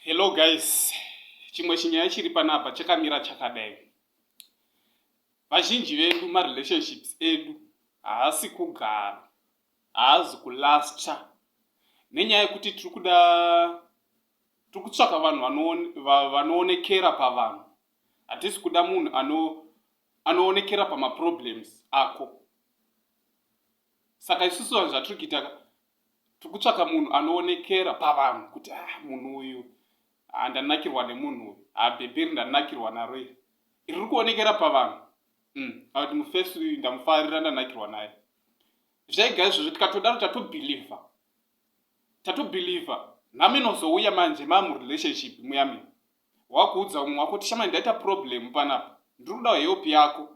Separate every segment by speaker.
Speaker 1: Hello guys, chimwe chinyaya chiri panapa chakamira chakadai. Vazhinji vedu marelationships edu haasi kugara, haazi kulasta nenyaya yekuti tiri kuda tiri kutsvaka vanhu vanoonekera pavanhu. Hatisi kuda munhu anoonekera pamaproblems ako. saka isusu vanhu zvatiri kuita ka tiri kutsvaka munhu anoonekera pavanhu kuti a ah, munhu uyu handanakirwa nemunhu uyu habhebheri ndanakirwa naro iri riri kuonekera pavanhu mm, akuti mufesi uyu ndamufarira ndanakirwa naye zvega izvozvo tikatodaro tatobhilivha tatobhilivha nhamo inozouya manje mamurelationship muyami wakuudza umwe wako tishamai ndaita problem panapa ndiri kudawo help yako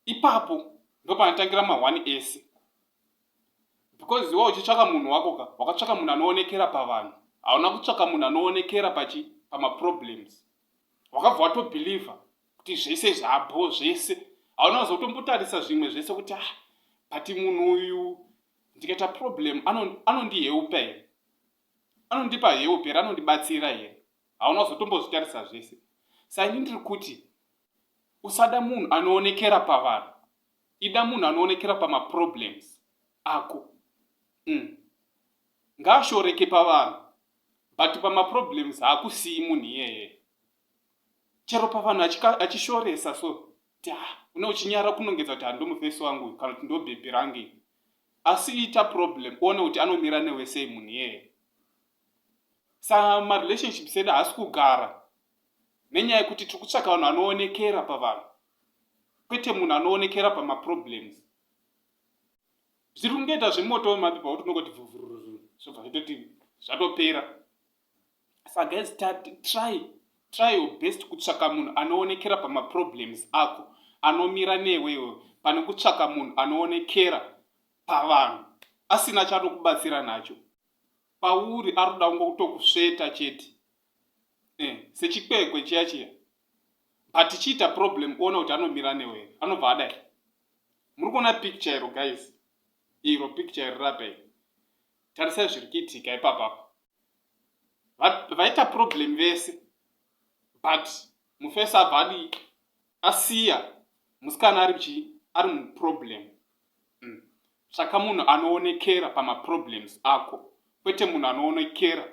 Speaker 1: ipapo ndopanatangira mahwani ese because iwe uchitsvaka munhu wako ka wakatsvaka munhu anoonekera pavanhu hauna kutsvaka munhu anoonekera pachi pamaproblems wakabva watobhilivha kuti zvese zvabho zvese hauna kuzotombotarisa zvimwe zvese kuti ah but munhu uyu ndikaita problem anondiheupa ano here anondipa heup here anondibatsira here hauna kuzotombozvitarisa zvese saini ndiri kuti Usada munhu anoonekera pavanhu. Ida munhu anoonekera pamaproblems ako. Mm. Ngaashoreke pavanhu but pamaproblems haakusiyi munhu iyeye. Chero pavanhu achishoresa so kuti ha ah, une uchinyara kunongedza kuti handomufesi wangu kana kuti ndobhebhi range. Asi ita problem uone kuti anomira newe sei munhu iyeye. Sa marelationships edu haasi kugara nenyaya yekuti tiri kutsvaka vanhu vanoonekera pavanhu kwete munhu anoonekera pamaproblems zviri kungoita zvemoto wemapipa wo tinongoti vuvururu zvobva zvatoti zvatopera sa guys try try your best kutsvaka munhu anoonekera pamaproblems ako anomira newewo pane kutsvaka munhu anoonekera pavanhu asina chatokubatsira nacho pauri aroda kungokutokusveta chete eh, sechikwekwe chiya chiya but chiita problem kuona kuti anomira newe anobva adai muri kuona picture iro guys iro picture iri rapa iri tarisai zviri kuitika ipapapo vaita problem vese but mufesi abva adi asiya musikana ari chii ari muproblem mm. saka munhu anoonekera pamaproblems ako kwete munhu anoonekera